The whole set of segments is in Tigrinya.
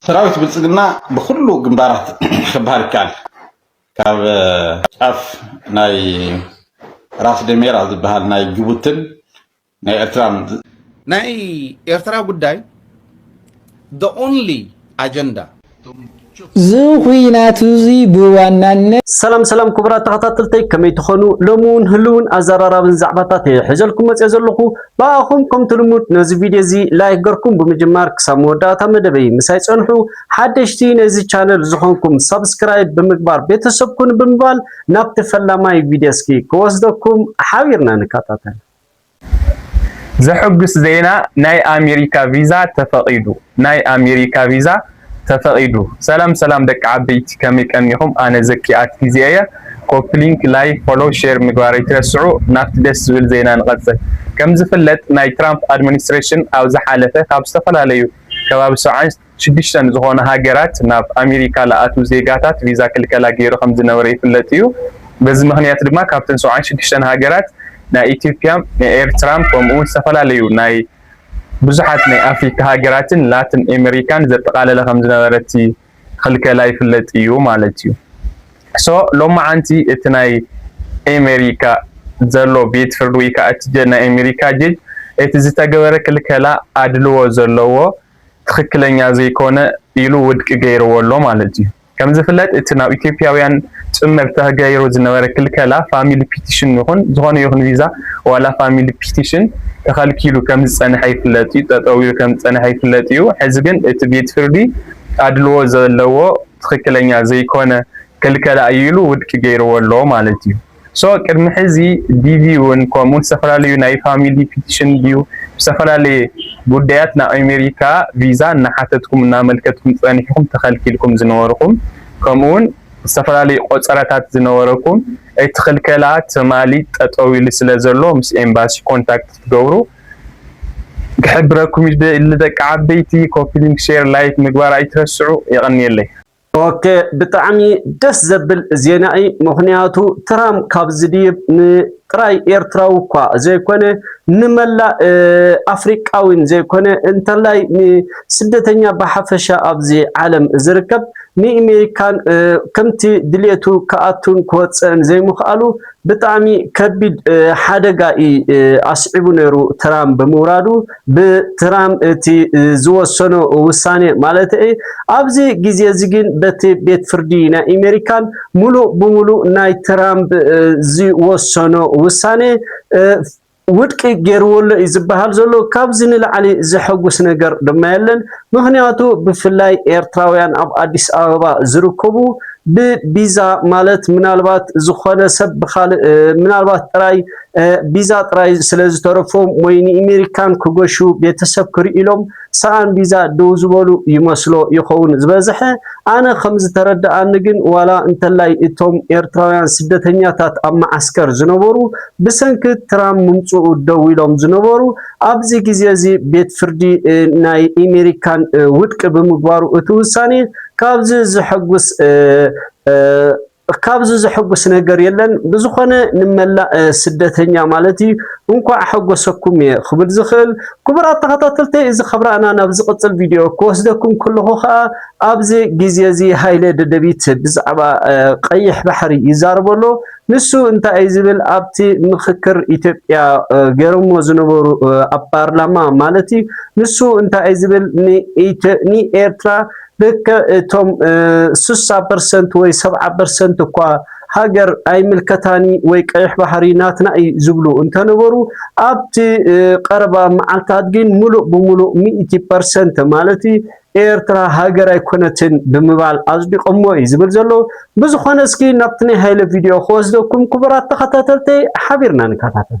ሰራዊት ብልፅግና ብኩሉ ግንባራት ክበሃል ይከኣል ካብ ጫፍ ናይ ራስ ደሜራ ዝበሃል ናይ ጅቡትን ናይ ኤርትራን ናይ ኤርትራ ጉዳይ the only agenda ዝኹናት እዚ ብዋናነት ሰላም ሰላም ክቡራት ተኸታተልተይ ከመይ ትኾኑ ሎሚ እውን ህልውን ኣዘራራብን ዛዕባታት እየ ሒዘልኩም መፅየ ዘለኹ ብኣኹም ከምቲ ልሙድ ነዚ ቪድዮ እዚ ላይክ ገርኩም ብምጅማር ክሳብ መወዳእታ መደበይ ምሳይ ጸንሑ ሓደሽቲ ነዚ ቻነል ዝኾንኩም ሳብስክራይብ ብምግባር ቤተሰብ ኩኑ ብምባል ናብቲ ፈላማይ ቪድዮ እስኪ ክወስደኩም ሓቢርና ንከታተል። ዘሕጉስ ዜና ናይ ኣሜሪካ ቪዛ ተፈቒዱ! ናይ ኣሜሪካ ቪዛ ተፈቂዱ። ሰላም ሰላም ደቂ ዓበይቲ ከመይ ቀኒኩም ኣነ ዘኪ ኣት ጊዜ እየ ኮፒ ሊንክ ላይክ ፎሎው ሼር ምግባር ኣይትረስዑ ናብቲ ደስ ዝብል ዜና ንቀፅል ከምዝፍለጥ ናይ ትራምፕ ኣድሚኒስትሬሽን ኣብ ዝሓለፈ ካብ ዝተፈላለዩ ከባቢ ሰብዓን ሽዱሽተን ዝኮና ሃገራት ናብ ኣሜሪካ ልኣትው ዜጋታት ቪዛ ክልከላ ገይሩ ከምዝነበረ ይፍለጥ እዩ በዚ ምክንያት ድማ ካብተን ሰብዓን ሽዱሽተን ሃገራት ናይ ኢትዮጵያ ናይ ኤርትራ ከምኡውን ዝተፈላለዩ ናይ ብዙሓት ናይ ኣፍሪካ ሃገራትን ላትን ኤመሪካን ዘጠቓለለ ከምዝነበረ እቲ ኽልከላ ይፍለጥ እዩ ማለት እዩ። so ሎማዓንቲ እቲ ናይ ኤመሪካ ዘሎ ቤት ፍርዲ ወይ ከዓ እቲ ናይ ኤመሪካ ጀጅ እቲ ዝተገበረ ክልከላ ኣድልዎ ዘለዎ ትኽክለኛ ዘይኮነ ኢሉ ውድቂ ገይርዎ ኣሎ ማለት እዩ። ከምዝፍለጥ እቲ ናብ ኢትዮጵያውያን ፅመብታ ገይሩ ዝነበረ ክልከላ ፋሚሊ ፒቲሽን ይኹን ዝኾነ ይኹን ቪዛ ዋላ ፋሚሊ ፒቲሽን ተኸልኪሉ ከምዝፀነሐ ይፍለጥ እዩ ጠጠው ኢሉ ከምዝፀነሐ ይፍለጥ እዩ ሕዚ ግን እቲ ቤት ፍርዲ ኣድልዎ ዘለዎ ትኽክለኛ ዘይኮነ ክልከላ እዩ ኢሉ ውድቂ ገይርዎ ኣሎ ማለት እዩ። so ቅድሚ ሕዚ DV ውን ከምኡ ዝተፈላለዩ ናይ ፋሚሊ ፒቲሽን ድዩ ብዝተፈላለየ ጉዳያት ናብ ኣሜሪካ ቪዛ እናሓተትኩም እናመልከትኩም ፀኒሕኩም ተኸልኪልኩም ዝነበርኹም ከምኡ ውን ዝተፈላለዩ ቆፀራታት ዝነበረኩም እቲ ክልከላ ትማሊ ጠጠው ኢሉ ስለ ዘሎ ምስ ኤምባሲ ኮንታክት ክትገብሩ ክሕብረኩም ይደሊ ደቂ ዓበይቲ ኮፒሊንክ ሼር ላይክ ምግባር ኣይትረስዑ የቐንየለይ። ኦኬ ብጣዕሚ ደስ ዘብል ዜና እዪ ምኽንያቱ ትራም ካብ ዝድይብ ንጥራይ ኤርትራዊ እኳ ዘይኮነ ንመላእ ኣፍሪቃዊን ዘይኮነ እንተላይ ንስደተኛ ብሓፈሻ ኣብዚ ዓለም ዝርከብ ንኢሜሪካን ከምቲ ድሌቱ ክኣቱን ክወጽእን ዘይምኽኣሉ ብጣዕሚ ከቢድ ሓደጋ እዪ ኣስዒቡ ነይሩ ትራም ብምውራዱ ብትራም እቲ ዝወሰኖ ውሳኔ ማለተይ እዪ ኣብዚ ግዜ እዚ ግን በቲ ቤት ፍርዲ ናይ እሜሪካን ሙሉእ ብሙሉእ ናይ ትራምብ ዝወሰኖ ውሳኔ ውድቂ ገይርዎ'ሎ እዩ ዝበሃል ዘሎ። ካብዚ ንላዕሊ ዘሐጉስ ነገር ድማ የለን። ምኽንያቱ ብፍላይ ኤርትራውያን ኣብ ኣዲስ ኣበባ ዝርከቡ ብቢዛ ማለት ምናልባት ዝኾነ ሰብ ብኻልእ ምናልባት ጥራይ ቢዛ ጥራይ ስለዝተረፎም ወይ ንኢሜሪካን ክገሹ ቤተሰብ ክርኢሎም ሰኣን ቢዛ ደው ዝበሉ ይመስሎ ይኸውን ዝበዘሐ። ኣነ ከም ዝተረደኣኒ ግን ዋላ እንተላይ እቶም ኤርትራውያን ስደተኛታት ኣብ መዓስከር ዝነበሩ ብሰንኪ ትራም ምምጽኡ ደው ኢሎም ዝነበሩ ኣብዚ ግዜ እዚ ቤት ፍርዲ ናይ ኢሜሪካን ውድቂ ብምግባሩ እቲ ውሳኔ ካብዚ ዘሐጉስ ካብዚ ዘሐጉስ ነገር የለን ብዝኾነ ንመላእ ስደተኛ ማለት እዩ እንኳዕ ኣሐጎሰኩም እየ ክብል ዝኽእል ክቡራት ተኸታተልተይ እዚ ከብራእና ናብ ዝቕፅል ቪድዮ ክወስደኩም ከለኹ ከዓ ኣብዚ ግዜ እዚ ሃይለ ደደቢት ብዛዕባ ቀይሕ ባሕሪ ይዛረቦ ኣሎ ንሱ እንታይ እዩ ዝብል ኣብቲ ምክክር ኢትዮጵያ ገይሮሞ ዝነበሩ ኣብ ፓርላማ ማለት እዩ ንሱ እንታይ እዩ ዝብል ንኤርትራ ልክዕ እቶም ስሳ ፐርሰንት ወይ ሰብዓ ፐርሰንት እኳ ሃገር ኣይምልከታን እዩ ወይ ቀይሕ ባሕሪ ናትና እዩ ዝብሉ እንተነበሩ ኣብቲ ቀረባ መዓልታት ግን ምሉእ ብምሉእ ሚእቲ ፐርሰንት ማለት እዩ ኤርትራ ሃገር ኣይኮነትን ብምባል ኣጽዲቆሞ እዩ ዝብል ዘሎ። ብዝኾነ እስኪ ናብቲ ናይ ሃይለ ቪድዮ ክወስደኩም ክቡራት ተኸታተልተይ ሓቢርና ንከታተል።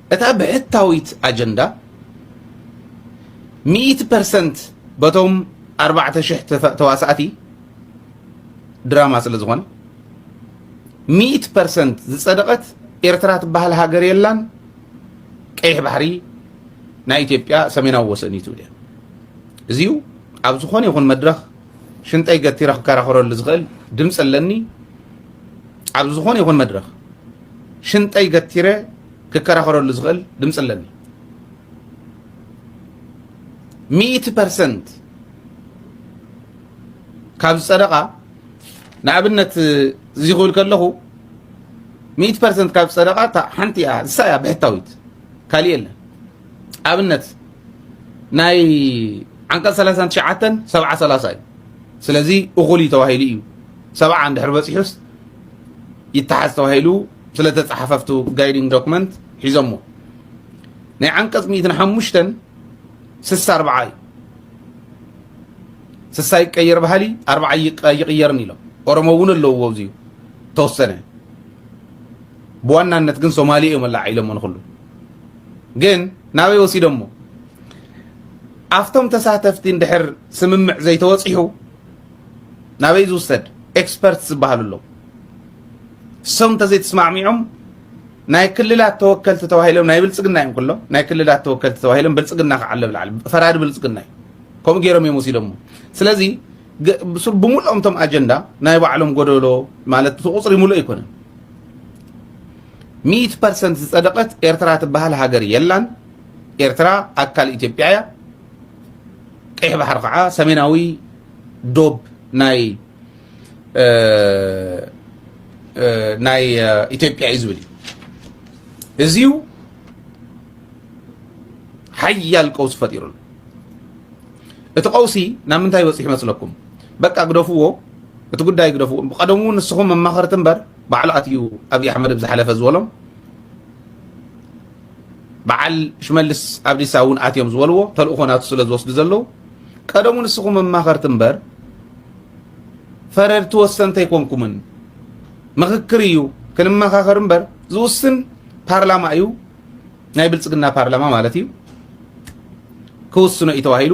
እታ ብሕታዊት ኣጀንዳ ሚእቲ ፐርሰንት በቶም ኣርባዕተ ሽሕ ተዋሳእቲ ድራማ ስለ ዝኾነ ሚእቲ ፐርሰንት ዝጸደቐት ኤርትራ ትበሃል ሃገር የላን ቀይሕ ባሕሪ ናይ ኢትዮጵያ ሰሜናዊ ወሰን እዩ ትብል እያ እዚዩ ኣብ ዝኾነ ይኹን መድረኽ ሽንጠይ ገቲረ ክከራኸረሉ ዝኽእል ድምፂ ኣለኒ ኣብ ዝኾነ ይኹን መድረኽ ሽንጠይ ገቲረ ክከራኸረሉ ዝኽእል ድምፂ ኣለኒ ሚእቲ ፐርሰንት ካብ ዝፀደቓ ንኣብነት እዚ ክብል ከለኹ ሚእቲ ፐርሰንት ካብ ዝፀደቓ እታ ሓንቲ እያ ንሳ እያ ብሕታዊት ካሊእ የለን ኣብነት ናይ ዓንቀፅ 39 ሰብዓ 30 እዩ ስለዚ እኹል እዩ ተባሂሉ እዩ ሰብዓ እንድሕር በፂሑስ ይተሓዝ ተባሂሉ ስለ ተጻሓፈ ኣብቲ ጋይዲንግ ዶክመንት ሒዞሞ ናይ ዓንቀጽ ሚእትን ሓሙሽተን ስሳ ኣርብዓ እዩ ስሳ ይቀየር ባህሊ ኣርብዓ ይቕየርን ኢሎም ኦሮሞ እውን ኣለዎ ኣብዚ ተወሰነ ብዋናነት ግን ሶማሌ እዮም ኣላ ኢሎሞ ንኩሉ ግን ናበይ ወሲዶሞ ኣብቶም ተሳተፍቲ እንድሕር ስምምዕ ዘይተወፂሑ ናበይ ዝውሰድ ኤክስፐርት ዝበሃሉ ኣለዉ እሶም እንተዘይተስማዕሚዖም ናይ ክልላት ተወከልቲ ተባሂሎም ናይ ብልፅግና እዮም ኩሎም ናይ ክልላት ተወከልቲ ተባሂሎም ብልፅግና ከዓ ኣሎ ብላዕሊ ፈራዲ ብልፅግና እዩ ከምኡ ገይሮም እዮም ወሲዶሞ ስለዚ ብምልኦም እቶም ኣጀንዳ ናይ ባዕሎም ጎደሎ ማለት እቲ ቁፅሪ ሙሉእ ኣይኮነን ሚእቲ ፐርሰንት ዝፀደቐት ኤርትራ ትበሃል ሃገር የላን ኤርትራ ኣካል ኢትዮጵያ እያ ቀይሕ ባሕሪ ከዓ ሰሜናዊ ዶብ ናይ ናይ ኢትዮጵያ እዩ ዝብል እዩ እዚዩ ሓያል ቀውሲ ፈጢሩሉ እቲ ቀውሲ ናብ ምንታይ ይበፅሕ ይመስለኩም በቃ ግደፍዎ እቲ ጉዳይ ግደፍዎ ቀደሙ ንስኹም መማኸርቲ እምበር ባዕሉ ኣትዩ ኣብዪ ኣሕመድ ብዝሓለፈ ዝበሎም በዓል ሽመልስ ኣብዲሳ እውን ኣትዮም ዝበልዎ ተልእኾ ናቱ ስለ ዝወስዱ ዘለዉ ቀደሙ ንስኹም መማኸርቲ እምበር ፈረድቲ ወሰንቲ ኣይኮንኩምን። ምኽክር እዩ ክንመኻኸር እምበር ዝውስን ፓርላማ እዩ፣ ናይ ብልፅግና ፓርላማ ማለት እዩ። ክውስኖ እዩ ተባሂሉ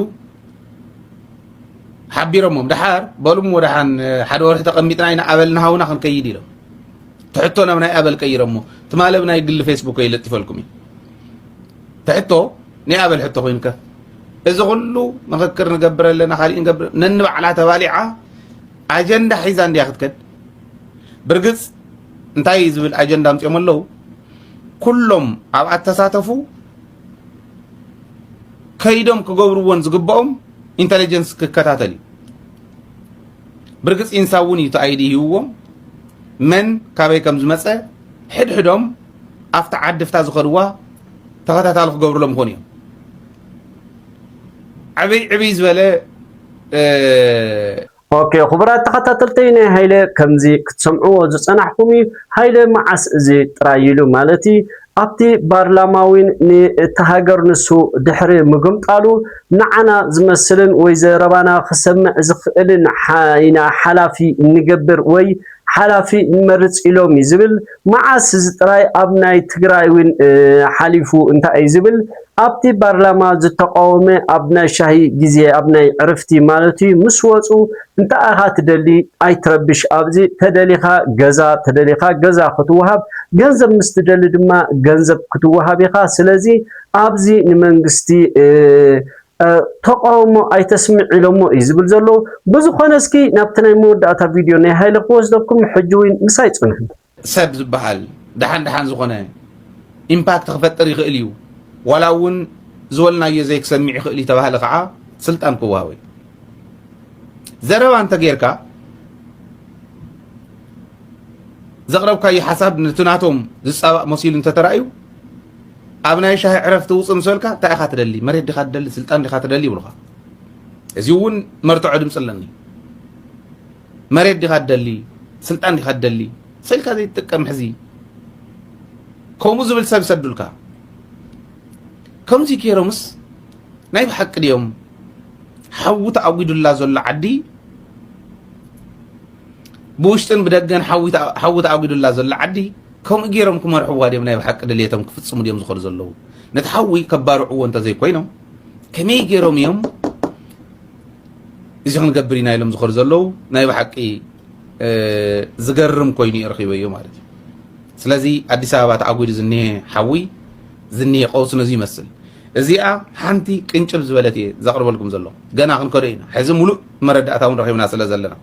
ሓቢሮሞም ደሓር በሉም ወደሓን ሓደ ወርሒ ተቐሚጥና ኢና ኣበልና ሃውና ክንከይድ ኢሎም ትሕቶ ናብ ናይ ኣበል ቀይረሞ ትማሊ ኣብ ናይ ግሊ ፌስቡከይ ለጢፈልኩም እዩ ትሕቶ ናይ ኣበል ሕቶ ኮይንከ እዚ ኩሉ ምክክር ንገብር ኣለና ካሊእ ንገብር ነንባዕላ ተባሊዓ ኣጀንዳ ሒዛ እንድያ ክትከድ ብርግፅ እንታይ ዝብል ኣጀንዳ ኣምፅኦም ኣለዉ ኩሎም ኣብ ኣተሳተፉ ከይዶም ክገብርዎን ዝግብኦም ኢንተለጀንስ ክከታተል እዩ ብርግጽ ኢንሳ እውን እዩ እቲ ኣይዲ ሂብዎም መን ካበይ ከም ዝመፀ ሕድሕዶም ኣብቲ ዓዲ ፍታ ዝኸድዋ ተኸታታሊ ክገብርሎም ይኾኑ እዮም ዕብይ ዕብይ ዝበለ ኦኬ ክቡራት ተኸታተልተይ ናይ ሃይለ ከምዚ ክትሰምዕዎ ዝጸናሕኩም እዩ ሃይለ መዓስ እዚ ጥራይ ኢሉ ማለት እዩ ኣብቲ ባርላማ ዊን ንእታ ሃገር ንሱ ድሕሪ ምግምጣሉ ንዓና ዝመስልን ወይ ዘረባና ክሰምዕ ዝኽእልን ኢና ሓላፊ እንገብር ወይ ሓላፊ ንመርጽ ኢሎም እዩ ዝብል መዓስ እዚ ጥራይ ኣብ ናይ ትግራይ ዊን ሓሊፉ እንታይ እዩ ዝብል ኣብቲ ባርላማ ዝተቃወመ ኣብ ናይ ሻሂ ግዜ ኣብ ናይ ዕርፍቲ ማለቱ ምስ ወጹ እንታይ ኢኻ ትደሊ ኣይትረብሽ ኣብዚ ተደሊኻ ገዛ ተደሊኻ ገዛ ክትወሃብ ገንዘብ ምስ ትደሊ ድማ ገንዘብ ክትወሃብ ኢኻ ስለዚ ኣብዚ ንመንግስቲ ተቃውሞ ኣይተስምዕ ኢሎሞ እዩ ዝብል ዘሎ። ብዝኾነ እስኪ ናብቲ ናይ መወዳእታ ቪድዮ ናይ ሃይለ ክወስደኩም ሕጂ እውን ምሳይ ጽንሑ። ሰብ ዝበሃል ደሓን ደሓን ዝኾነ ኢምፓክት ክፈጥር ይኽእል እዩ፣ ዋላ እውን ዝበልናዮ ዘይክሰምዕ ይኽእል እዩ ተባሃለ ከዓ ስልጣን ክወሃቦ እዩ። ዘረባ እንተጌርካ ዘቕረብካዮ ሓሳብ ነቲ ናቶም ዝፃባእ መሲሉ እንተተራእዩ ኣብ ናይ ሻሂ ዕረፍቲ ውፅእ ምስ በልካ እንታይ ኢኻ ትደሊ መሬት ዲኻ ትደሊ ስልጣን ዲኻ ትደሊ ይብሉኻ እዚ እውን መርትዖ ድምፂ ኣለኒ መሬት ዲኻ ትደሊ ስልጣን ዲኻ ትደሊ ሰልካ ዘይትጥቀም ሕዚ ከምኡ ዝብል ሰብ ይሰዱልካ ከምዚ ጌሮምስ ናይ ብሓቂ ድዮም ሓዊ ተኣጒዱላ ዘሎ ዓዲ ብውሽጥን ብደገን ሓዊ ተኣጒዱላ ዘሎ ዓዲ ከምኡ ገይሮም ክመርሕዋ ድዮም ናይ ብሓቂ ድልየቶም ክፍፅሙ ድዮም ዝኸዱ ዘለዉ ነቲ ሓዊ ከባርዕዎ እንተዘይኮይኖም ከመይ ገይሮም እዮም እዚ ክንገብር ኢና ኢሎም ዝኸዱ ዘለዉ ናይ ብሓቂ ዝገርም ኮይኑ እየ ረኺበዮ ማለት እዩ ስለዚ ኣዲስ ኣበባ ተኣጒዱ ዝኒሀ ሓዊ ዝኒሀ ቀውሲ ነዚ ይመስል እዚኣ ሓንቲ ቅንጭብ ዝበለት እየ ዘቕርበልኩም ዘሎ ገና ክንከዶ ኢና ሕዚ ሙሉእ መረዳእታ እውን ረኺብና ስለ ዘለና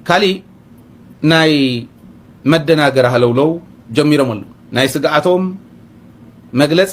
ካሊእ ናይ መደናገር ሃለውለው ጀሚሮም ኣለዉ ናይ ስግኣቶም መግለፂ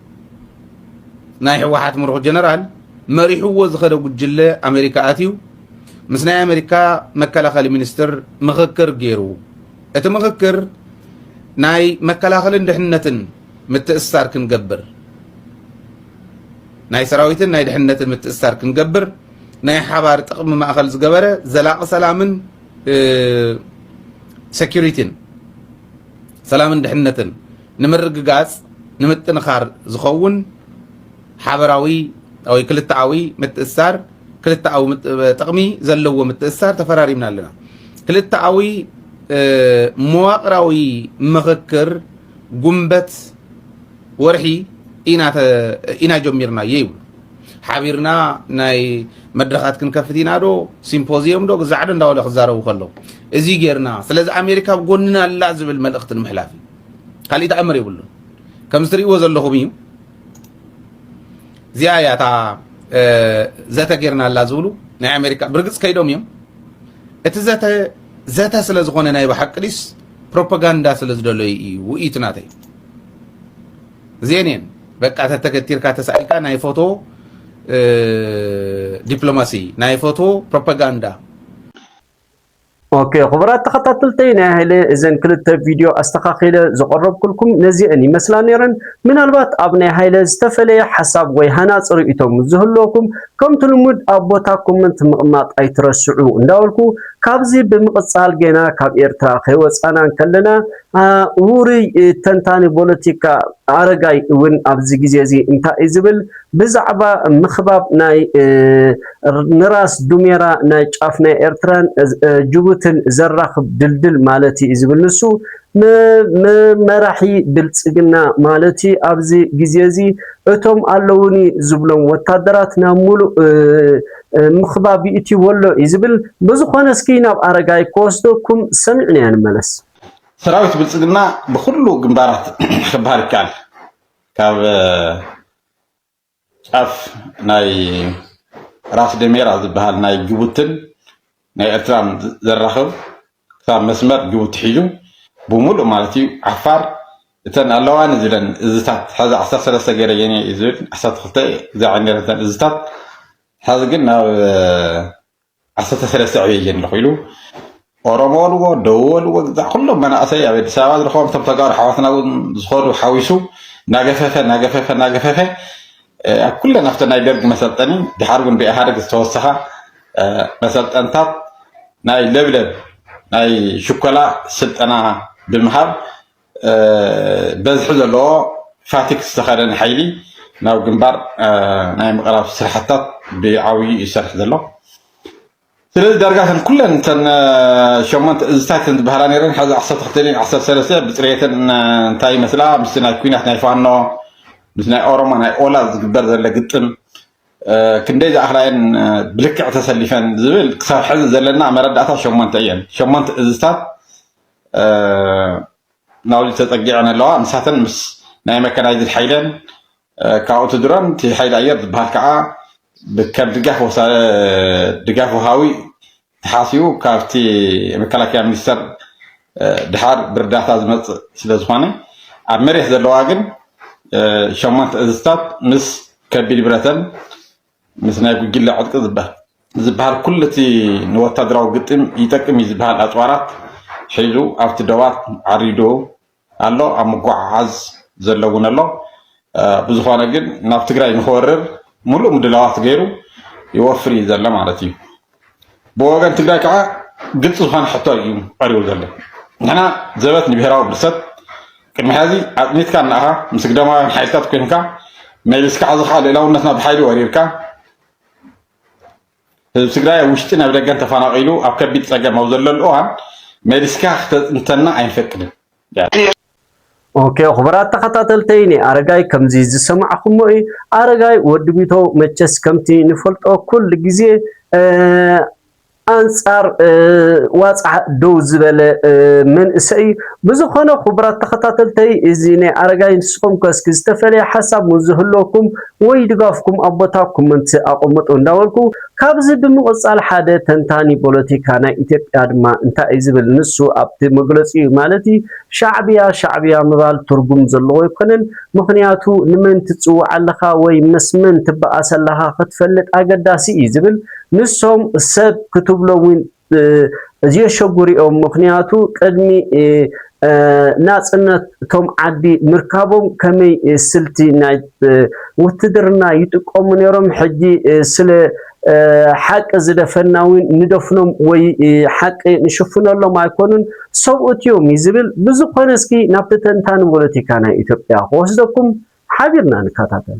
ናይ ህወሓት ምሩኽ ጀነራል መሪሕዎ ዝኸደ ጉጅለ ኣሜሪካ ኣትዩ ምስ ናይ ኣሜሪካ መከላኸሊ ሚኒስትር ምኽክር ገይሩ እቲ ምኽክር ናይ መከላኸልን ድሕነትን ምትእስሳር ክንገብር ናይ ሰራዊትን ናይ ድሕነትን ምትእስሳር ክንገብር ናይ ሓባር ጥቕሚ ማእኸል ዝገበረ ዘላቒ ሰላምን ሴኪሪቲን ሰላምን ድሕነትን ንምርግጋጽ ንምጥንኻር ዝኸውን ሓበራዊ ወይ ክልተኣዊ ምትእስሳር ክልተኣዊ ጥቕሚ ዘለዎ ምትእስሳር ተፈራሪምና ኣለና። ክልተኣዊ መዋቕራዊ ምኽክር ጉንበት ወርሒ ኢና ጀሚርናዮ ይብሉ። ሓቢርና ናይ መድረኻት ክንከፍት ኢና ዶ ሲምፖዚየም ዶ ግዛዕ ዶ እንዳበለ ክዛረቡ ከለዉ እዚ ጌርና ስለዚ ኣሜሪካ ኣብ ጎንና ኣላ ዝብል መልእኽቲ ንምሕላፍ እዩ ካልእ ተኣምር የብሉን ከምዚ ትርእይዎ ዘለኹም እዩ እዚኣ እያ እታ ዘተ ጌርና ኣላ ዝብሉ ናይ ኣሜሪካ ብርግፅ ከይዶም እዮም እቲ ዘተ ዘተ ስለ ዝኾነ ናይ ብሓቂ ድስ ፕሮፓጋንዳ ስለ ዝደለዩ እዩ ውእይቱ ናተይ እዚኤን እየን በቃ ተተገቲርካ ተሳኢልካ ናይ ፎቶ ዲፕሎማሲ ናይ ፎቶ ፕሮፓጋንዳ ኦኬ ክቡራት ተኸታተልቲ ናይ ሃይለ እዘን ክልተ ቪድዮ ኣስተኻኺለ ዘቐረብኩልኩም ነዚአን ይመስላ ነይረን። ምናልባት ኣብ ናይ ሃይለ ዝተፈለየ ሓሳብ ወይ ሃናፂ ርእይቶ ምስ ዝህልወኩም ከምቲ ልሙድ ኣብ ቦታ ኮመንት ምቕማጥ ኣይትረስዑ እንዳበልኩ ካብዚ ብምቕፃል ገና ካብ ኤርትራ ከይወፃና እንከለና ውሩይ ተንታኒ ቦለቲካ ኣረጋይ እውን ኣብዚ ግዜ እዚ እንታይ እዩ ዝብል ብዛዕባ ምክባብ ናይ ንራስ ዱሜራ ናይ ጫፍ ናይ ኤርትራን ጅቡትን ዘራክብ ድልድል ማለት እዩ ዝብል ንሱ መራሒ ብልጽግና ማለት እዩ ኣብዚ ግዜ እዚ እቶም ኣለውኒ ዝብሎም ወታደራት ናብ ሙሉእ ምክባብ ይእትይዎ ኣሎ እዩ ዝብል ብዝኮነ እስኪ ናብ ኣረጋይ ክወስደኩም ሰሚዕናዮ ንመለስ። ሰራዊት ብልፅግና ብኩሉ ግንባራት ክበሃል ይከኣል ካብ ጫፍ ናይ ራስ ደሜራ ዝበሃል ናይ ጅቡትን ናይ ኤርትራን ዘራኽብ ክሳብ መስመር ጅቡቲ ሒዙ ብምሉእ ማለት እዩ ዓፋር እተን ኣለዋኒ ዝብለን እዝታት ሓዚ ዓሰርተ ሰለስተ ገይረ የኔ እዩ ዝብል ዓሰርተ ክልተ እዛ ዕንደረተን እዝታት ሓዚ ግን ናብ ዓሰርተ ሰለስተ ዕብየት እየ ኣለኹ ኢሉ ኦሮሞ በልዎ ደቡብ በልዎ ግዛዕ ኩሎም መናእሰይ ኣብ ኣዲስ ኣበባ ዝረኸቦም እቶም ተጋሩ ሓዋትና እውን ዝኸዱ ሓዊሱ ናገፈፈ ናገፈፈ ናገፈፈ ኣብ ኩለን ኣብቲ ናይ ደርጊ መሰልጠኒ ድሓር እውን ብኢህኣደግ ዝተወሰኻ መሰልጠንታት ናይ ለብለብ ናይ ሽኮላ ስልጠና ብምሃብ በዝሒ ዘለዎ ፋቲግ ዝተኸደነ ሓይሊ ናብ ግንባር ናይ ምቕራብ ስራሕትታት ብዓብዩ እዩ ዝሰርሕ ዘሎ። ስለዚ ዳርጋ እተን ኩለን እተን ሸሞንተ እዝታት እተን ዝበሃላ ነይረን ሓዚ ዓሰርተ ክልተን እየን ዓሰርተ ሰለስተ ብፅሬተን እንታይ ይመስላ ምስ ናይ ኩናት ናይ ፋኖ ምስ ናይ ኦሮሞ ናይ ኦላ ዝግበር ዘሎ ግጥም ክንደይ ዝኣኽላየን ብልክዕ ተሰሊፈን ዝብል ክሳብ ሕዚ ዘለና መረዳእታ ሸሞንተ እየን ሸሞንተ እዝታት ናውቲ ተጸጊዐን ኣለዋ። ንሳተን ምስ ናይ መካናይዝድ ሓይለን ካብኡ እቲ ድሮን እቲ ሓይሊ ኣየር ዝበሃል ከዓ ከም ድጋፍ ወሃቢ ተሓሲቡ ካብቲ መከላከያ ሚኒስተር ድሓር ብርዳታ ዝመጽእ ስለ ዝኾነ ኣብ መሬት ዘለዋ ግን ሸሞንተ እዝታት ምስ ከቢድ ብረተን ምስ ናይ ጉጅለ ዕጥቂ ዝበሃል ዝበሃል ኩሉ እቲ ንወታደራዊ ግጥም ይጠቅም እዩ ዝበሃል ኣጽዋራት ሒዙ ኣብቲ ዶባት ዓሪዱ ኣሎ፣ ኣብ ምጉዕዓዝ ዘሎ እውን ኣሎ። ብዝኾነ ግን ናብ ትግራይ ንክወርር ሙሉእ ምድላዋት ገይሩ ይወፍር እዩ ዘሎ ማለት እዩ። ብወገን ትግራይ ከዓ ግልፂ ዝኾነ ሕቶ እዩ ቀሪቡ ዘሎ። ንሕና ዘበት ንብሄራዊ ብርሰት ቅድሚ ሕዚ ኣፅኒትካ እናኻ ምስ ግዳማውያን ሓይልታት ኮይንካ መሊስካ ሕዚ ከዓ ልእላውነትና ብሓይሊ ወሪርካ ህዝቢ ትግራይ ኣብ ውሽጢ ናብ ደገን ተፈናቂሉ ኣብ ከቢድ ፀገም ኣብ ዘለሉ እዋን መሊስካ ክተፅንተና ኣይንፈቅድን። ኦኬ ኹብራት ተኸታተልተይ ናይ ኣረጋይ ከምዚ ዝሰማዕኹሞ እዩ ኣረጋይ ወዲ ቢተው መቸስ ከምቲ ንፈልጦ ኩሉ ግዜ ኣንጻር ዋጽዓ ደው ዝበለ መንእሰይ እዩ ብዝኾነ ክቡራት ተኸታተልተይ እዚ ናይ ኣረጋይ ንስኹም ከ እስኪ ዝተፈለየ ሓሳብ ዝህልወኩም ወይ ድጋፍኩም ኣብ ቦታ ኮመንት ኣቐምጡ እንዳበልኩ ካብዚ ብምቕጻል ሓደ ተንታኒ ቦለቲካ ናይ ኢትዮጵያ ድማ እንታይ እዩ ዝብል ንሱ ኣብቲ መግለጺኡ ማለት እዩ ሻዕብያ ሻዕብያ ምባል ትርጉም ዘለዎ ኣይኮነን ምኽንያቱ ንመን ትጽውዕ ኣለኻ ወይ ምስ መን ትበኣስ ኣለኻ ክትፈልጥ ኣገዳሲ እዩ ዝብል ንሶም ሰብ ክትብሎም ውን ዝየሸጉ ሪኦም ምኽንያቱ ቅድሚ ናጽነት እቶም ዓዲ ምርካቦም ከመይ ስልቲ ናይ ውትድርና ይጥቀሙ ነይሮም ሕጂ ስለ ሓቂ ዝደፈና እውን ንደፍኖም ወይ ሓቂ ንሽፍነሎም ኣይኮኑን ሰብኡት እዮም እዩ ዝብል ብዝኾነ እስኪ ናብቲ ተንታኒ ፖለቲካ ናይ ኢትዮጵያ ክወስደኩም ሓቢርና ንከታተል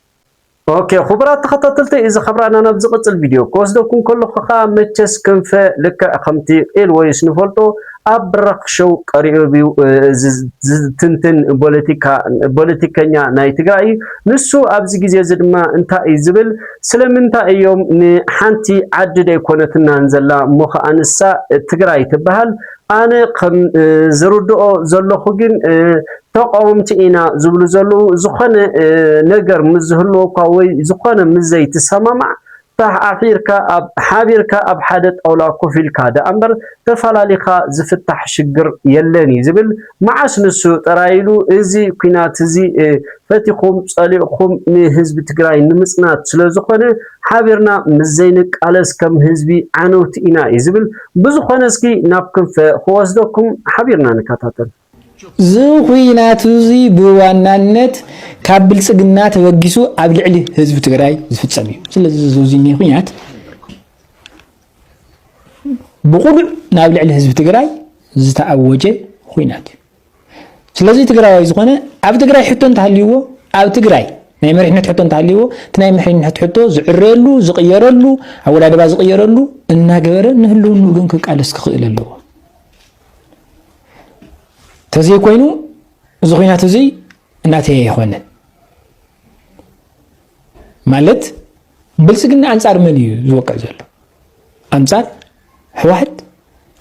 ኦኬ ኹቡራት ተኸታተልተይ እዚ ካብራና ናብ ዝቕጽል ቪድዮ ክወስደኩም ከለኹ ኸኣ መቸስ ክንፈ ልክዕ ከምቲ ቂል ወይስ ንፈልጦ ኣብ ብራኽ ሸው ቀሪቡ ዝትንትን ፖለቲካ ፖለቲከኛ ናይ ትግራይ እዩ ንሱ ኣብዚ ግዜ እዚ ድማ እንታይ እዩ ዝብል ስለምንታይ እዮም ንሓንቲ ዓዲ ደይኮነትናን ዘላ እሞ ኸኣ ንሳ ትግራይ ትበሃል ኣነ ከም ዝርድኦ ዘለኩ ግን ተቃወምቲ ኢና ዝብሉ ዘለዉ ዝኮነ ነገር ምስ ዝህልወኳ ወይ ዝኮነ ምስ ዘይትሰማማዕ ተሓሒርካ ኣብ ሓቢርካ ኣብ ሓደ ጣውላ ኮፍ ኢልካ ደኣ እምበር ተፈላሊካ ዝፍታሕ ሽግር የለን እዩ ዝብል መዓስ ንሱ ጥራይ ኢሉ እዚ ኩናት እዚ ፈቲኩም ጸሊእኩም ንህዝቢ ትግራይ ንምጽናት ስለ ዝኮነ ሓቢርና ምስ ዘይንቃለስ ከም ህዝቢ ዓነውቲ ኢና እዩ ዝብል። ብዝኾነ እስኪ ናብ ክንፈ ክወስደኩም ሓቢርና ንከታተል። እዚ ኹናት እዚ ብዋናነት ካብ ብልፅግና ተበጊሱ ኣብ ልዕሊ ህዝቢ ትግራይ ዝፍፀም እዩ። ስለዚ እዚ እዙይ ኹናት ብቑሉዕ ናብ ልዕሊ ህዝቢ ትግራይ ዝተኣወጀ ኹናት እዩ። ስለዚ ትግራዋይ ዝኾነ ኣብ ትግራይ ሕቶ እንተሃልይዎ ኣብ ትግራይ ናይ መሪሕነት ሕቶ እንተሃልይዎ እቲ ናይ መሪሕነት ሕቶ ዝዕረየሉ ዝቕየረሉ ኣወዳድባ ዝቕየረሉ እናገበረ ንህልውንኡ ግን ክቃለስ ክኽእል ኣለዎ ተዘይኮይኑ እዚ ኩናት እዙይ እናተየ ኣይኮነን ማለት ብልፅግና ኣንፃር መን እዩ ዝወቅዕ ዘሎ ኣንፃር ህወሓት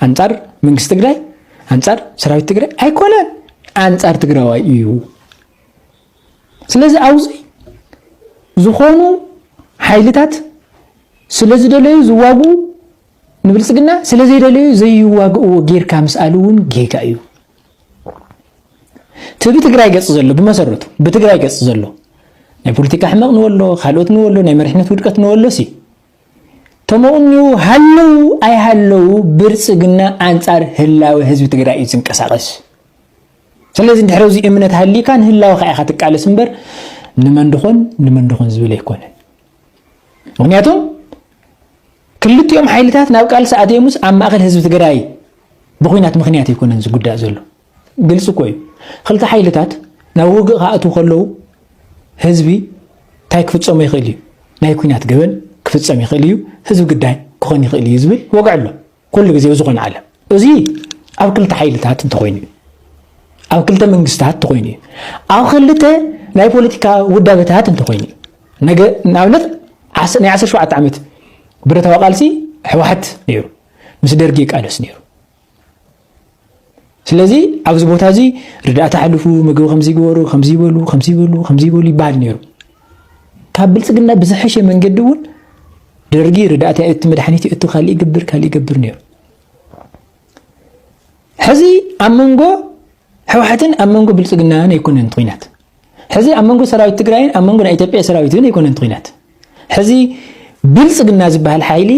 ኣንፃር መንግስቲ ትግራይ ኣንፃር ሰራዊት ትግራይ ኣይኮነን ኣንፃር ትግራዋይ እዩ ስለዚ ኣብዚ ዝኾኑ ሓይልታት ስለ ዝደለዩ ዝዋግኡ ንብልፅግና ስለ ዘይደለዩ ዘይዋግእዎ ጌርካ ምስኣል እውን ጌጋ እዩ እቲ ብትግራይ ገፅ ዘሎ ብመሰረቱ ብትግራይ ገፅ ዘሎ ናይ ፖለቲካ ሕመቕ ንወሎ ካልኦት ንወሎ ናይ መሪሕነት ውድቀት ንወሎ ሲ ተመቕንዩ ሃለው ኣይሃለው ብልፅግና ኣንፃር ህላወ ህዝቢ ትግራይ እዩ ዝንቀሳቐስ። ስለዚ ድሕሪ እዚ እምነት ሃሊካ ንህላወኻ ኢኻ ትቃለስ እምበር ንመን ድኾን ንመን ድኾን ዝብል ኣይኮነን። ምክንያቱም ክልቲኦም ሓይልታት ናብ ቃልሲ ኣትዮምስ ኣብ ማእኸል ህዝቢ ትግራይ ብኩናት ምክንያት ኣይኮነን ዝጉዳእ ዘሎ ግልፂ እኮ እዩ ክልተ ሓይልታት ናብ ውግእ ክኣትዉ ከለዉ ህዝቢ እንታይ ክፍፀሞ ይኽእል እዩ ናይ ኩናት ገበን ክፍፀም ይኽእል እዩ ህዝቢ ግዳይ ክኾን ይኽእል እዩ ዝብል ወግዒ ኣሎ ኩሉ ግዜ ብዝኾነ ዓለም እዚ ኣብ ክልተ ሓይልታት እንተኾይኑ እዩ ኣብ ክልተ መንግስታት እንተኾይኑ እዩ ኣብ ክልተ ናይ ፖለቲካ ውዳበታት እንተኾይኑ እዩ ነገ ንኣብነት ናይ 17 ዓመት ብረታዊ ቃልሲ ሕወሓት ነይሩ ምስ ደርጊ ይቃለስ ነይሩ ስለዚ ኣብዚ ቦታ እዚ ርዳእታ ኣሕልፉ፣ ምግቢ ከምዚ ግበሩ፣ ከምዚ ይበሉ፣ ከምዚ ይበሉ፣ ከምዚ ይበሉ ይበሃል ነይሩ። ካብ ብልፅግና ብዝሐሸ መንገዲ እውን ደርጊ ርዳእታ እቲ መድሓኒት እቲ ካልእ ይገብር ካልእ ይገብር ነይሩ። ሕዚ ኣብ መንጎ ሕወሓትን ኣብ መንጎ ብልፅግናን ኣይኮነን ኩናት ሕዚ ኣብ መንጎ ሰራዊት ትግራይን ኣብ መንጎ ናይ ኢትዮጵያ ሰራዊት እውን ኣይኮነን እቲ ኩናት ሕዚ ብልፅግና ዝበሃል ሓይሊ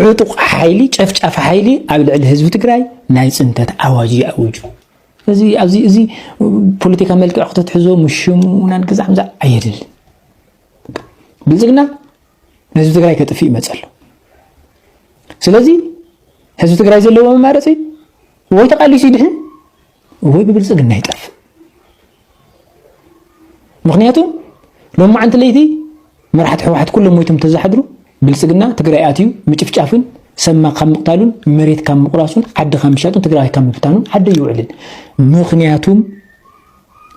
ዕጡቕ ሓይሊ ጨፍጫፊ ሓይሊ ኣብ ልዕሊ ህዝቢ ትግራይ ናይ ፅንተት ኣዋጅ እዩ ኣውጁ እዚ ኣብዚ እዚ ፖለቲካ መልክዕ ክተትሕዞ ምሽሙናን ግዛዕምዛ ኣየድል ብልፅግና ንህዝቢ ትግራይ ከጥፍእ ይመፅ ኣሎ ስለዚ ህዝቢ ትግራይ ዘለዎ መማረፂ ወይ ተቃሊሱ ይድሕን ወይ ብብልፅግና ይጠፍእ ምክንያቱ ሎም መዓንቲ ለይቲ መራሕቲ ሕወሓት ኩሎም ሞይቶም ተዝሓድሩ ብልፅግና ትግራይ ኣትዩ ምጭፍጫፍን ሰማ ካብ ምቕታሉን መሬት ካብ ምቑራሱን ዓዲ ካብ ምሻጡን ትግራይ ካብ ምፍታኑን ዓዲ ይውዕልን ምክንያቱም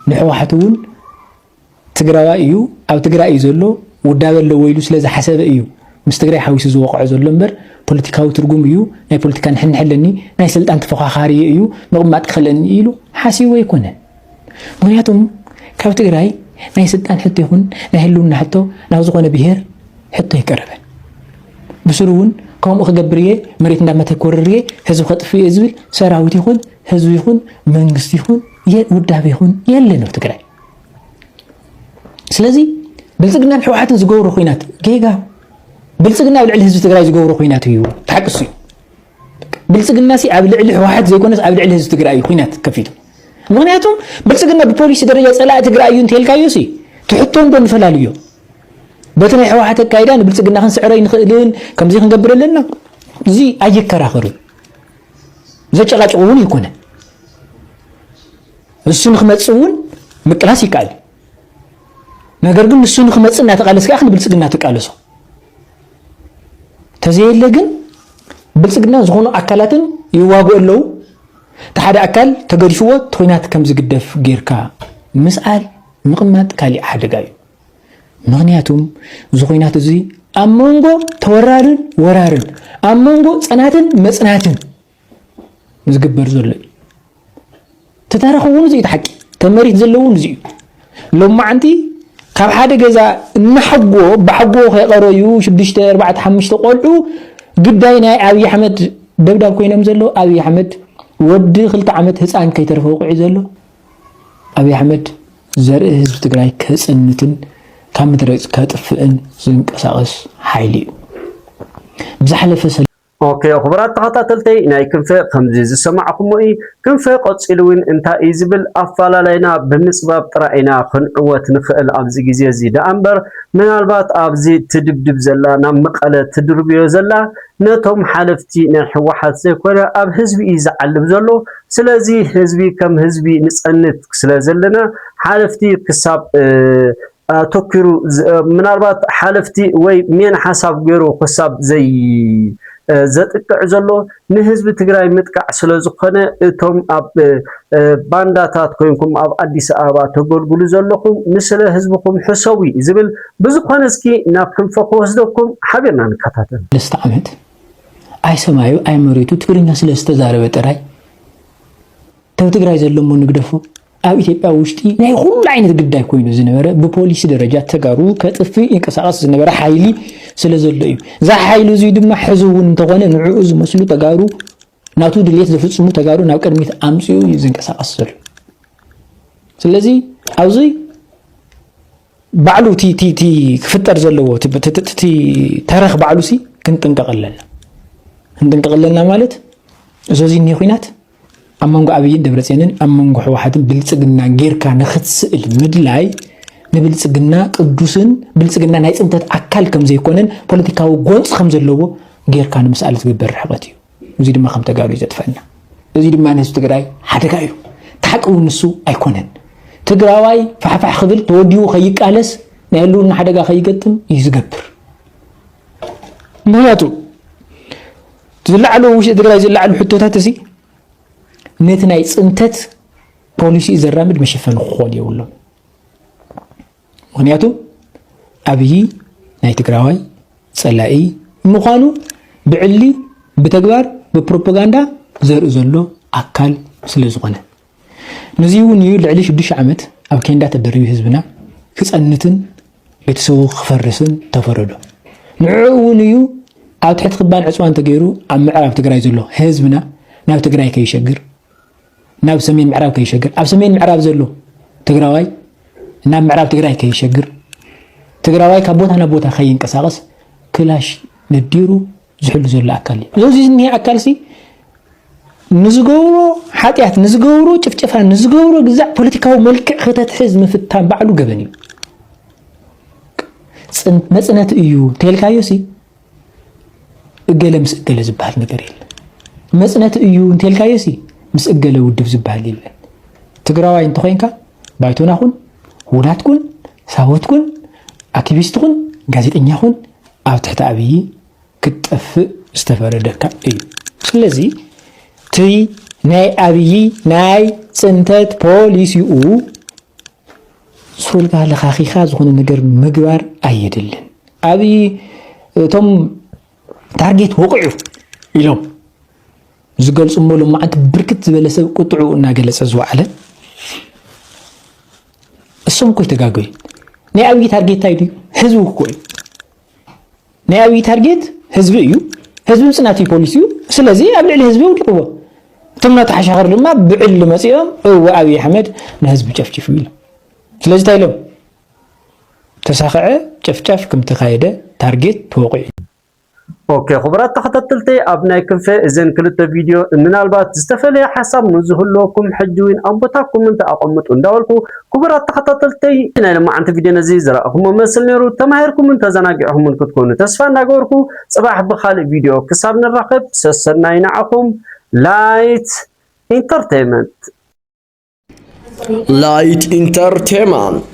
ንሕወሓት እውን ትግራዋይ እዩ ኣብ ትግራይ እዩ ዘሎ ውዳበ ኣለዎ ኢሉ ስለ ዝሓሰበ እዩ ምስ ትግራይ ሓዊሱ ዝወቕዖ ዘሎ እምበር ፖለቲካዊ ትርጉም እዩ ናይ ፖለቲካ ንሕንሕ ኣለኒ ናይ ስልጣን ተፎኻኻሪ እዩ ምቕማጥ ክኽእለኒ ኢሉ ሓሲቡ ኣይኮነን ምክንያቱም ካብ ትግራይ ናይ ስልጣን ሕቶ ይኹን ናይ ህልውና ሕቶ ናብ ዝኾነ ብሄር ሕቶ ኣይቀረበን ብስሩ እውን ከምኡ ክገብር እየ መሬት እንዳመተ ኮርር እየ ህዝቢ ከጥፍ እየ ዝብል ሰራዊት ይኹን ህዝቢ ይኹን መንግስቲ ይኹን ውዳብ ይኹን የለን ኣብ ትግራይ ስለዚ ብልፅግናን ሕወሓትን ዝገብሮ ኩናት ጌጋ ብልፅግና ኣብ ልዕሊ ህዝቢ ትግራይ ዝገብሮ ኩናት እዩ ተሓቅሱ እዩ ብልፅግና ሲ ኣብ ልዕሊ ሕወሓት ዘይኮነስ ኣብ ልዕሊ ህዝቢ ትግራይ እዩ ኩናት ከፊቱ ምክንያቱ ብልፅግና ብፖሊሲ ደረጃ ፀላእ ትግራይ እዩ እንተልካዮ ሲ ትሕቶ እንዶ ንፈላልዮ በቲ ናይ ሕወሓት ኣካይዳ ንብልፅግና ክንስዕረ ይንኽእልን ከምዚ ክንገብር ኣለና እዚ ኣየከራኸርን ዘጨቃጭቁ እውን ይኮነ ንሱ ንክመፅእ እውን ምቅላስ ይከኣል እዩ። ነገር ግን ንሱ ንክመፅእ እናተቃለስካ ኢኻ ንብልፅግና ትቃለሶ። ተዘየለ ግን ብልፅግና ዝኾኑ ኣካላትን ይዋግኡ ኣለዉ እቲ ሓደ ኣካል ተገዲፍዎ እቲ ኩናት ከም ዝግደፍ ጌርካ ምስኣል ምቕማጥ ካሊእ ሓደጋ እዩ ምክንያቱም እዚ ኩናት እዚ ኣብ መንጎ ተወራርን ወራርን ኣብ መንጎ ፅናትን መፅናትን ዝግበር ዘሎ እዩ ተታረኽ እውን እዚዩ ሓቂ ከም መሬት ዘለዎ እውን እዚዩ ሎማዓንቲ ካብ ሓደ ገዛ እናሓጎ ብሓጎ ከይቀረዩ ሽዱሽተ ኣርባዕተ ሓሙሽተ ቆልዑ ግዳይ ናይ ኣብዪ ኣሕመድ ደብዳብ ኮይኖም ዘሎ ኣብዪ ኣሕመድ ወዲ ክልተ ዓመት ህፃን ከይተረፈ ውቑዒ ዘሎ ኣብዪ ኣሕመድ ዘርኢ ህዝቢ ትግራይ ከፅንትን ካብ ምድረ ከጥፍእን ዝንቀሳቐስ ሓይሊ እዩ ብዝሓለፈ Ok ኹቡራት ተኸታተልተይ ናይ ክንፈ ከምዚ ዝሰማዕኹሞ እዪ ክንፈ ቀጺሉ ውን እንታይ እዪ ዝብል ኣፋላላይና ብምጽባብ ጥራይ ኢና ክንዕወት ንኽእል ኣብዚ ግዜ እዚ ደኣ እምበር ምናልባት ኣብዚ ትድብድብ ዘላ ናብ መቀለ ትድርብዮ ዘላ ነቶም ሓለፍቲ ናይ ሕዋሓት ዘይኮነ ኣብ ህዝቢ እዪ ዝዓልብ ዘሎ ስለዚ ህዝቢ ከም ህዝቢ ንጸንት ስለዘለና ሓለፍቲ ክሳብ ኣተኲሩ ምናልባት ሓለፍቲ ወይ ሜን ሓሳብ ገይሩ ክሳብ ዘጥቅዕ ዘሎ ንህዝቢ ትግራይ ምጥቃዕ ስለ ዝኾነ እቶም ኣብ ባንዳታት ኮይንኩም ኣብ ኣዲስ ኣበባ ተገልግሉ ዘለኹም ንስለ ህዝብኹም ሕሰቡ ዝብል ብዝኾነ እስኪ ናብ ክንፈ ክወስደኩም ሓቢርና ንከታተል። ሰለስተ ዓመት ኣይ ሰማዩ ኣይ መሬቱ ትግርኛ ስለ ዝተዛረበ ጥራይ ተብ ትግራይ ዘለሞ ንግደፎ ኣብ ኢትዮጵያ ውሽጢ ናይ ኹሉ ዓይነት ግዳይ ኮይኑ ዝነበረ ብፖሊሲ ደረጃ ተጋሩ ከጥፍእ ይንቀሳቐስ ዝነበረ ሓይሊ ስለ ዘሎ እዩ። እዚ ሓይሊ እዙይ ድማ ሕዚ እውን እንተኾነ ንዕኡ ዝመስሉ ተጋሩ ናቱ ድሌት ዝፍፅሙ ተጋሩ ናብ ቅድሚት ኣምፅኡ እዩ ዝንቀሳቐስ ዘሎ። ስለዚ ኣብዚ ባዕሉ ቲ ክፍጠር ዘለዎ ቲ ተረኽ ባዕሉ ሲ ክንጥንቀቕ ኣለና ክንጥንቀቕ ኣለና ማለት እዚ እኒሄ ኩናት ኣብ መንጎ ኣብይን ደብረፅዮንን ኣብ መንጎ ሕወሓትን ብልፅግናን ጌርካ ንክትስእል ምድላይ ንብልፅግና ቅዱስን ብልፅግና ናይ ፅንተት ኣካል ከምዘይኮነን ፖለቲካዊ ጎንፂ ከምዘለዎ ጌርካ ንምስኣል ዝግበር ርሕቐት እዩ እዚ ድማ ከም ተጋሩ እዩ ዘጥፈና እዚ ድማ ንህዝቢ ትግራይ ሓደጋ እዩ ታሓቂ እውን ንሱ ኣይኮነን ትግራዋይ ፋሕፋሕ ክብል ተወዲቡ ከይቃለስ ናይ ህልውና ሓደጋ ከይገጥም እዩ ዝገብር ምክንያቱ ዝለዓሉ ኣብ ውሽጢ ትግራይ ዝለዓሉ ሕቶታት እዚ ነቲ ናይ ፅንተት ፖሊሲኡ ዘራምድ መሸፈኒ ክኾኑ የብሎም ምክንያቱ ኣብዪ ናይ ትግራዋይ ፀላኢ ምዃኑ ብዕሊ ብተግባር ብፕሮፓጋንዳ ዘርኢ ዘሎ ኣካል ስለ ዝኾነ ነዙይውን እዩ ልዕሊ ሽዱሽተ ዓመት ኣብ ኬንዳ ተደሪቢ ህዝብና ክፀንትን ቤተሰቡ ክፈርስን ተፈረዶ ንዕዑ እውን እዩ ኣብ ትሕቲ ክባን ዕፅዋን ተገይሩ ኣብ ምዕራብ ትግራይ ዘሎ ህዝብና ናብ ትግራይ ከይሸግር ናብ ሰሜን ምዕራብ ከይሸግር ኣብ ሰሜን ምዕራብ ዘሎ ትግራዋይ ናብ ምዕራብ ትግራይ ከይሸግር ትግራዋይ ካብ ቦታ ናብ ቦታ ከይንቀሳቀስ ክላሽ ነዲሩ ዝሕሉ ዘሎ ኣካል እዩ። እዚ ዝኒሀ ኣካልሲ ንዝገብሮ ሓጢኣት፣ ንዝገብሮ ጭፍጨፋ፣ ንዝገብሮ ግዛዕ ፖለቲካዊ መልክዕ ክተትሕዝ ምፍታን ባዕሉ ገበን እዩ። መፅነት እዩ እንተልካዮ ሲ እገለ ምስ እገለ ዝበሃል ነገር የለ መፅነት እዩ እንተልካዮ ሲ ምስ እገለ ውድብ ዝበሃል የለን ትግራዋይ እንተኮይንካ ባይቶና ኩን ውናት ኩን ሳወት ኩን ኣክቲቪስት ኩን ጋዜጠኛ ኩን ኣብ ትሕቲ ኣብዪ ክትጠፍእ ዝተፈረደካ እዩ ስለዚ እቲ ናይ ኣብዪ ናይ ፅንተት ፖሊሲኡ ሱርካ ለኻኺኻ ዝኾነ ነገር ምግባር ኣየድልን ኣብዪ እቶም ታርጌት ወቕዑ ኢሎም ዝገልፁ ሞሎም መዓንቲ ብርክት ዝበለ ሰብ ቁጥዑ እናገለፀ ዝወዓለ እሶም እኮ ይተጋገዩ ናይ ኣብይ ታርጌት እንታይ ድዩ ህዝቢ እኮ እዩ ናይ ኣብይ ታርጌት ህዝቢ እዩ ህዝቢ ምስ ናትይ ፖሊሲ እዩ ስለዚ ኣብ ልዕሊ ህዝቢ ውድቅዎ እቶም ናቱ ሓሻኸር ድማ ብዕሊ መፂኦም እወ ኣብይ ኣሕመድ ንህዝቢ ጨፍጭፉ ኢሎም ስለዚ እንታይ ኢሎም ተሳኸዐ ጨፍጫፍ ከም ተኻየደ ታርጌት ተወቂዑ ኦኬ ክቡራት ተኸታተልተይ ኣብ ናይ ክንፈ እዘን ክልተ ቪድዮ ምናልባት ዝተፈለየ ሓሳብ ንዝህልወኩም ሕጂ እውን ኣብ ቦታ ኮመንት ኣቐምጡ እንዳበልኩ ክቡራት ተኸታተልተይ ናይ ለማዓንቲ ቪድዮ ነዚ ዝረኣኹሞ መስል ነይሩ ተማሂርኩምን ተዘናጊዕኹምን ክትኮኑ ተስፋ እንዳገበርኩ ጽባሕ ብኻልእ ቪድዮ ክሳብ ንራኸብ ሰሰናይ ንዓኹም ላይት ኢንተርቴይመንት ላይት ኢንተርቴይመንት